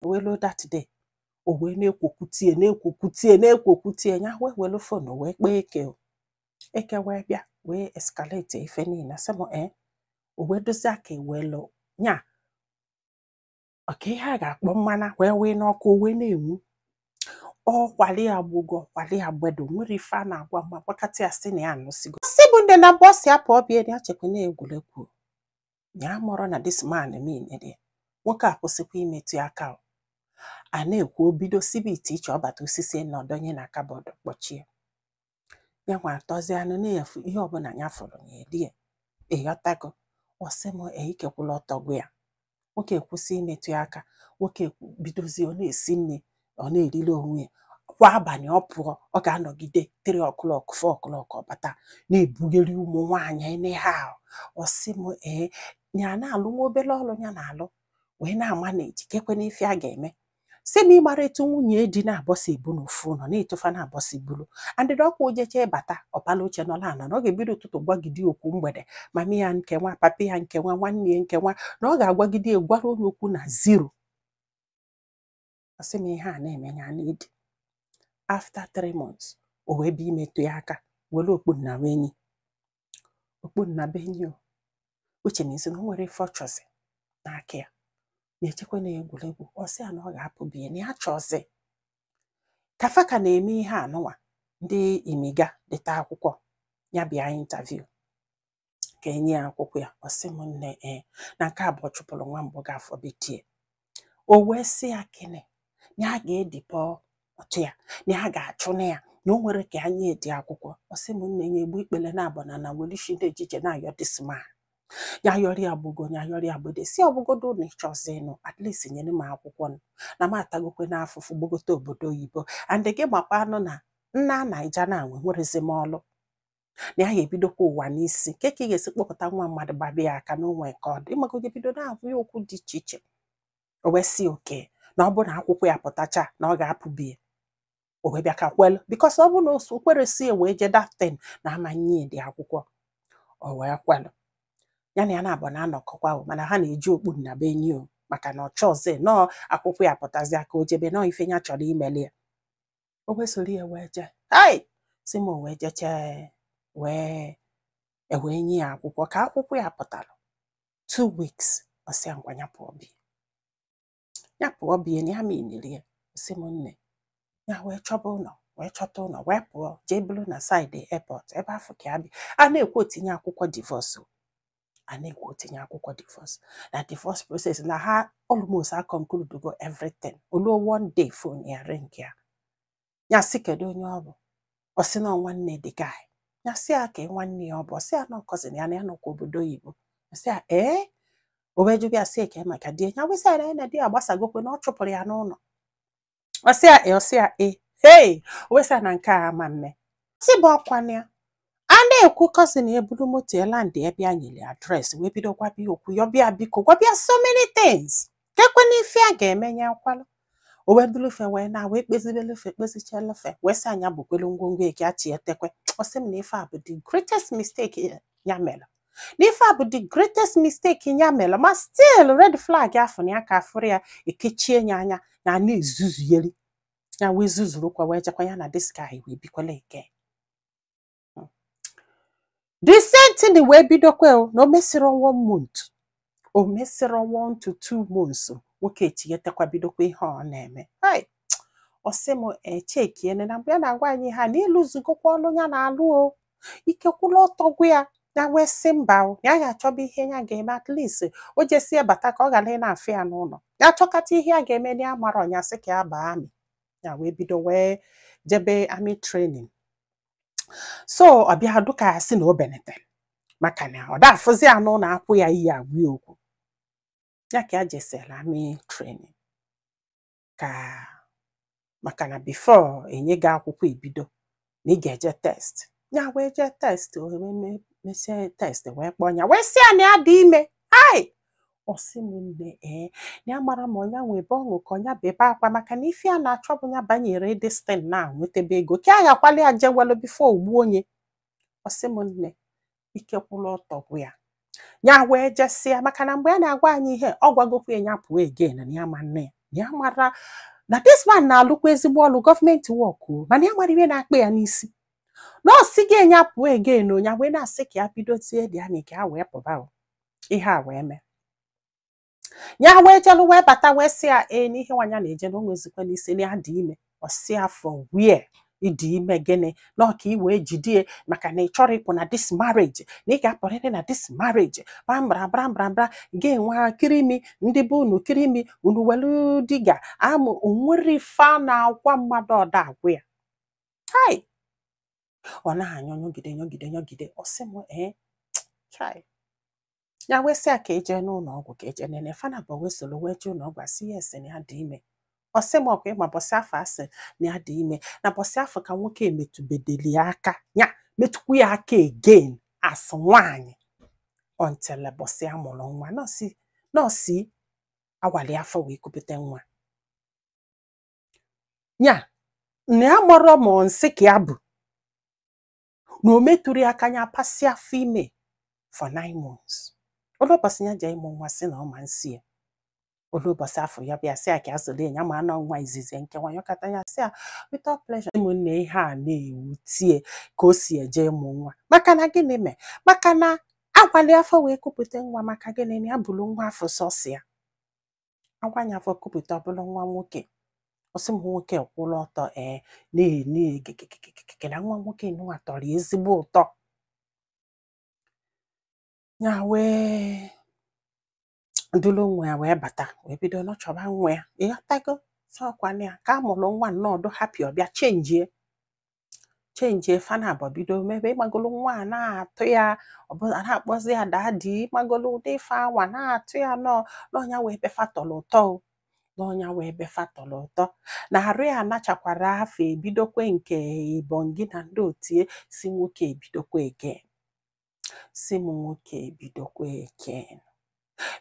wee ruo that day o wee na-ekwu okwu o tie na-ekwu okwu o tie na-ekwu okwu o tie ya wee were phone wee kpọọ eke o. eke wee bịa wee escalate ife niile sị m ee o wee dozie aka welu ya ọka ihe a ga-akpọ mmanụ wee wee n'ọkụ o wee na-enwu ọ kwali ya gbugo ọ kwali ya gbede o nwero ife a na-agwa mma gbakọta ya sị na ya anụsigo sị bụ ndị naabọ sị ya pụọ be ya ya chekwa na egwuregwu ya amarọ na this man mean dị nwoke a kwụsịkwa imetụ ya aka o. a na-ekwu o bido sibe ite iche ọ bata o sisịa nọọ ọ dọnye na cupboard kpọchie ya nwa atọzịa nọọ n'efu ihe ọbụla ya fụrụ ya elie ị ghọtago ọ sị m "Ee, ike kwụlụ ọtọ gwụ ya nwoke kwụsị imetụ ya aka nwoke bidozie ọ na-esi nri ọ na-eriri onwe ya kwa abalị ọ pụọ ọ ga-anọgide 3 o'clock 4 o'clock ọ bata na-ebugharị ụmụ nwaanyị anyhow ọ sị m ee ya na-alụ nwa obere ọrụ ya na-alụ wee na-amanage kekwanụ ife a ga-eme sị m ị mara etu nwunye di naabọ si ebu n'ofu ụlọ na etu fa naabọ si buru andịdị ọkwa o jecha bata ọ pala oche nọ ana na ọ ga-ebido ụtụtụ gwagide okwu mgbede mama ya nke nwa papa ya nke nwa nwanne ya nke nwa na ọ ga-agwagide ya gwaruo ya okwu na zero ọ sị m ihe a na-eme ya ana-edi after three months o wee bịa imetụ ya aka were okpu nnabuenyi okpu nnabuenyi o which means na o nwero ife ọ chọzi n'aka ya na-echekwa na egwuregwu ọ sị ya na ọ ga-apụ be ya na ya achọzi ka fa ka na-eme ihe anụnwa ndị imiga deta akwụkwọ ya bịa interview ka e nye ya akwụkwọ ya ọ sị m nne ee na nke a bụ ọ chụpụrụ nwa mbụ gị afọ betie o wee sị ya kene na a ga-edeport ya na a ga-achụna ya na o nwero ka anya edi akwụkwọ ọ sị m nne ya egbu ikpele naabọ n'ana welishi ndị e ji eje na-ayọ this man ya yọrọ ya gbugo ya yọrọ ya gbede sị ọ bụgodu na ị chọzi ịnụ at least nyere m akwụkwọ nụ na m atagokwanụ afụfụ gbagote obodo oyibo and gị makwanụ na na Naija na enwerozi m ọlụ na ya ga-ebidokwa ụwa n'isi kee ka ị ga-esi kpọpụta nwa mmadụ gbaba ya aka n'onwe nke ọ dị maka oge bido na-abụ ya okwu dị iche iche o wee sị okay na ọ bụrụ na akwụkwọ ya pụtacha na ọ ga-apụ be ya o wee bịa ka kwelu because ọ bụrụ na o sokwerozi ya wee jee that thing na a ma enyedị akwụkwọ o wee kwelu ya na ya naabọ na-anọkọkwa o mana ha na-eji okpu nnabuenyi o maka na ọ chọọzi nọọ akwụkwọ ya pụtazịa ka o jebe nọọ ife ya chọrọ imeli ya o wee soro ya wee jee hai sị m wee jechaa wee e wee nye ya akwụkwọ ka akwụkwọ ya pụtara two weeks ọ sị ya ngwa ya pụọ be ya ya pụọ be ya na ya meaniri ya sị m nne ya wee chọba ụlọ wee chọta ụlọ wee pụọ jee buru na side airport ebe afụ ka ya bi a na-ekwu o tinye akwụkwọ divorce a na-ekwu o tinye akwụkwọ divorce na divorce process na ha almost a conclude go everything o luo one day phone ya ring ya ya sị kedu onye ọ bụ ọ sị na ọ nwanne the guy ya sị ya kee nwanne ya ọ bụ ọ sị ya na ọ cousin ya na ya nọkwa obodo oyibo ya sị ya ee o wee jụba ya sị ya kee maka di ya wee sị ya na di ya gbasagokwe na ọ chụpụrụ ya n'ụnọ ọ sị ya e ọ sị ya e hei o wee sị ya na nke a ama mme si bụ ọkwana ya a na-ekwu cousin eburu moto ya landị ebe ya nyere address wee bido gwaba ya okwu yọba ya biko gwaba ya so many things kekwe n'ife a ga-eme ya akwala o wee bulu ife wee na wee kpezibelu ife kpezichelu ife wee sị ya nya bukwelu ngwongwo eke achị etekwe ọ sị m na ife a bụ the greatest mistake ya mere na ife a bụ the greatest mistake ya mere ma still red flag ịfụnanya ka a fụrụ ya ekechie ya anya na a na-ezuzuyeli ya wee zuzurukwa wee jekwa ya na this guy wee bikwala ike the same thing wee bidokwa o na o mesịrị one month o mesịrị one month two months nwoke echighetakwa bidokwa ihe ọ na-eme ọ sị m echekiene na mgbe ya na-agwa anyị ha na ịlụzugokwa ọlụ ya na-alụ o ike kwụlụ ọtọ gwụ ya ya wee sị mba ya ga-achọba ihe ya ga-eme at least o jesie bata ka ọ ghara ị na-afụ ya n'ụnọ ya chọkata ihe ya ga-eme na ya amarọ nya sị ka ya baa army ya wee bido wee jebe army training so ọ bịa dụ ka ya sị na o benetere maka na ọ da afụzi ya n'ụnọ akpọ ya iyi agwa ya okwu ya ka ya jesela army training ka maka na before e nye gị akwụkwọ ibido na ị ga-eje test ya wee jee test o wee me- mesie test wee kpọọ ya wee sị ya na ya dị ime ai ọ sị m nne ee ya amarọ ma ọ nya nwebe ọṅụ ka ọ nya bebe akwa maka na ife a na-achọ bụ ya banyere this thing na nwetebe ego ka a ghakwala ya jewelu before o gbuo nya ọ sị m nne ike kwụrụ ọtọ gwụ ya ya wee jesịa maka na mgbe a na-agwa anyị ihe ọ gwagokwa ya pụọ again na ya ma nne ya ya mara na this man na-alụkwa ezigbo ọlụ government work mana ya amarọ ihe na-akpa ya n'isi na ọ sị gị enya pụọ again ọ nya wee na-asị ka ya bidozie the army ka ya wee pụba o ihe a wee mee ya wee jelu wee bata wee sị ya ee n'ihe nwa nya na-eje na o nwezikwa n'isi na ya dị ime ọ sị ya from where ị dị ime gịnị na ọ ka i wee jidie maka na ị chọrọ ịpụ na this marriage na ị ga-apụrịrị na this marriage brambra brambra bra gị nwa kirimi ndị be unu kirimi unu welu diga amụ o nwerọ ife a na-agwa mmadụ ọ da agwa ya hai ọ na-anyụ nyụgide nyụgide nyụgide ọ sị m ee chai ya wee sị ya ka eje n'ụlọ ọgwụ ka eje nene fa naabọ wee soro wee jee ụlọ ọgwụ asị ya a sị na ya dị ime ọ sị m ọkwa ịma bọsị afụ a sị na ya dị ime na bọsị afụ ka nwoke a metụbedeli ya aka ya metụkwu ya aka again as nwaanyị until bọsị a mụrụ nwa na ọ sị na ọ sị awali afọ wee kupụta nwa ya na ya marọ ma ọ nsị ka ya bụ na o metụrọ ya aka ya pasị afọ ime for nine months o lu ụbọchị ya jee ịmụ nwa sị na ọ ma nsị ya o lu ụbọchị afụ ya bịa sị ya ka ya soro ya mana ọ nwa izizi nke nwa yọkata ya sị ya without pleasure ụmụnne ihe a na-ewutie ka o si eje ịmụ nwa maka na gịnị mee maka na awali afọ wee kupụta nwa maka gịnị na ya buru nwa afụ sọsọ ya awa nya afọ kupụta ọ bụlụ nwa nwoke ọ sị m nwoke kwụrụ ọtọ ee na-eme egegegegege na nwa nwoke nwa tọrọ ya ezigbo ụtọ ya wee duru nwa ya wee bata wee bido nọchọba nwa ya ịghọtago sọkwa nya ka a mụrụ nwa na ọ dụ happy ọ bịa chenjie chenjie fa naabọ bido mebe ịmagolu nwa a na-atọ ya ọ bịa na-akpọzi ya daddy ịmagolu ụdị ife anwa na-atọ ya na ọ na ọ nya wee ebe fa tọrọ ụtọ o na ọ nya wee ebe fa tọrọ ụtọ na arụ ya anachakwara afụ ebidokwe nke ibongi na ndị otie sị nwoke ebidokwe ege sị m nwoke bidokwa again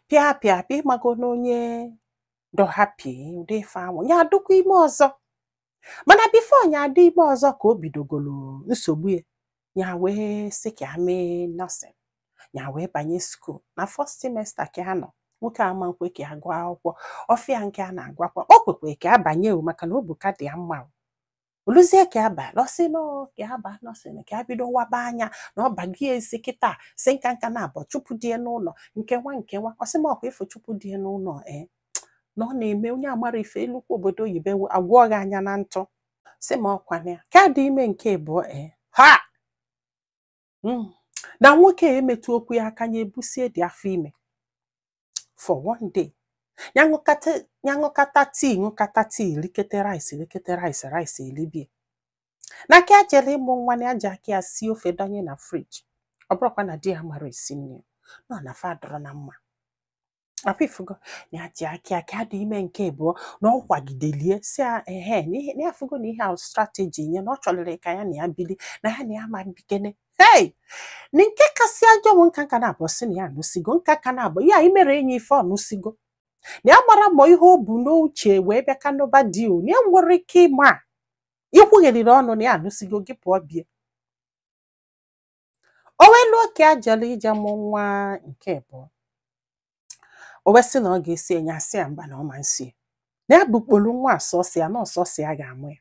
pịa pịa pịa ịmago na onye dụ happy ụdị ife anwa ya adụkwa ime ọzọ mana before ya adị ime ọzọ ka o bidogolo nsogbu ya ya wee sị ka ya mee nursing ya wee banye school na first semester ka ya nọ nwoke ama nkwe ka ya gụọ akwụkwọ ọfịa nke a na-agwakwa o kwekwe ka ya banye o maka na obu ka dị ya mma o. o luzie ka ya ba nursing ka ya ba nursing ka ya bido waba anya na ọ bago ya isi kịta sị nka nka na abọ chụpụ di ya n'ụlọ nke nwa nke nwa ọ sị m ọkwa ị fụ chụpụ di ya n'ụlọ ee na ọ na-eme onye amarọ ife e lukwu obodo oyibo agwọọ gị anya na ntụ sị m ọkwa na ya ka dị ime nke abụọ ee ha mm, na nwoke a emetụkwu ya aka ya ebusie dị afọ ime for one day ya ṅụkata ya ṅụkata tea ṅụkata tea likata rice likata rice rice elibie na ka ya jere ịmụ nwa na ya ji aka ya sie ofe dọnye na fridge ọ bụrọkwa na di ya amarọ esi nri na ọ na fa adụrọ na mma afọ ị fụgo na ya ji aka aka adị ime nke abụọ na ọ kwagidelie si ya ehe na ihe- na ya afụgo na ihe ahụ strategy nye na ọ chọrịrị ka ya na ya bili na ya na ya ma bikene hei na nke kasị ajọ bụ nka nka na-abụ si na ya anụsigo nka ka na-abụ ya imere enyi ife ọ nụsigo na ya mara ma ihe o bu n'uche wee bịa ka nụba di o na ya nwere ike ịma ikwugheriri ọnụ na ya anụsigo gị pụọ bie o wee luo ka a jere ije mụ nwa nke abụọ o wee sị na ọ ga-esi enye a sị ya mba na ọ ma nsi na ya bụ kpolu nwa asọsị ya na ọ sọsọ ya ga-amụ ya